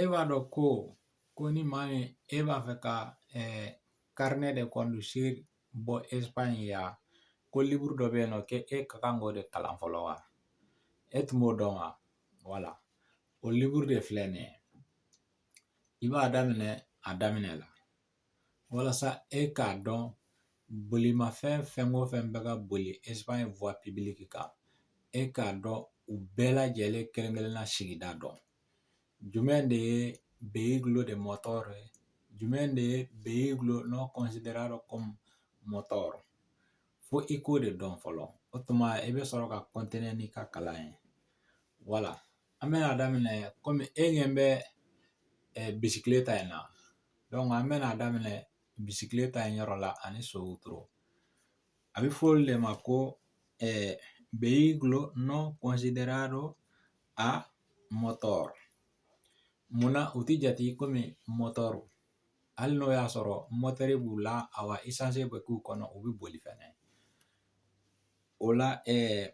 E b'a dɔn ko ko ni maa min e b'a fɛ ka carnet de conducir bɔ Espagne yan ko liburu dɔ bɛ yen nɔ k'e ka kan k'o de kalan fɔlɔ wa e tun b'o dɔn wa voilà o liburu de filɛ nin ye i b'a daminɛ a daminɛ la walasa e k'a dɔn bolimafɛn fɛn o fɛn bɛ ka boli Espagne voie publique kan e k'a dɔn u bɛɛ lajɛlen kelen-kelenna sigida dɔn jumɛn de ye vehículo de motor ye jumɛn de ye vehículo no considerado como motor fo i k'o de dɔn fɔlɔ o tuma i bɛ sɔrɔ ka continuer n'i ka kalan ye voilà an bɛna daminɛ kɔmi e ɲɛ bɛ bicicleta in na donc an bɛna a daminɛ bicicleta in yɔrɔ la ani so wotoro a bɛ fɔ olu de ma ko vehículo no considerado a motor munna u ti jate komi motor hali n'o y'a sɔrɔ mɔtɛri b'u la a wa essence bɛ k'u kɔnɔ u bɛ boli fɛnɛ o la ɛɛ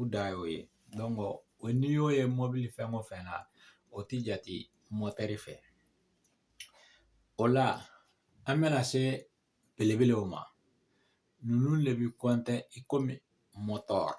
u dan y'o ye donc n'i y'o ye mɔbili fɛn o fɛn na o ti jate mɔtɛri fɛ o la an bɛna se belebelew ma ninnu de bi compter komi motor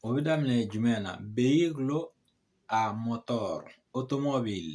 o bɛ daminɛ jumɛn na vehículo a motor automobile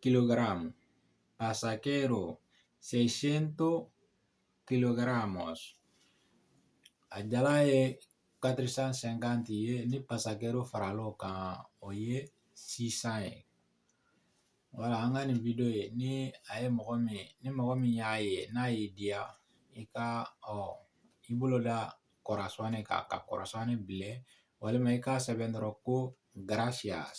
kilogramo, pasajero 600 kilogramos a jalan ye 450 ye ni pasajero farala o kan o ye 600 ye voilà an ka nin video ye ni a ye mɔgɔ min ni mɔgɔ min y'a ye n'a y'i diya i ka ɔ i bolo da corazón kan ka corazón bilen walima i k'a sɛbɛn dɔrɔn ko gracias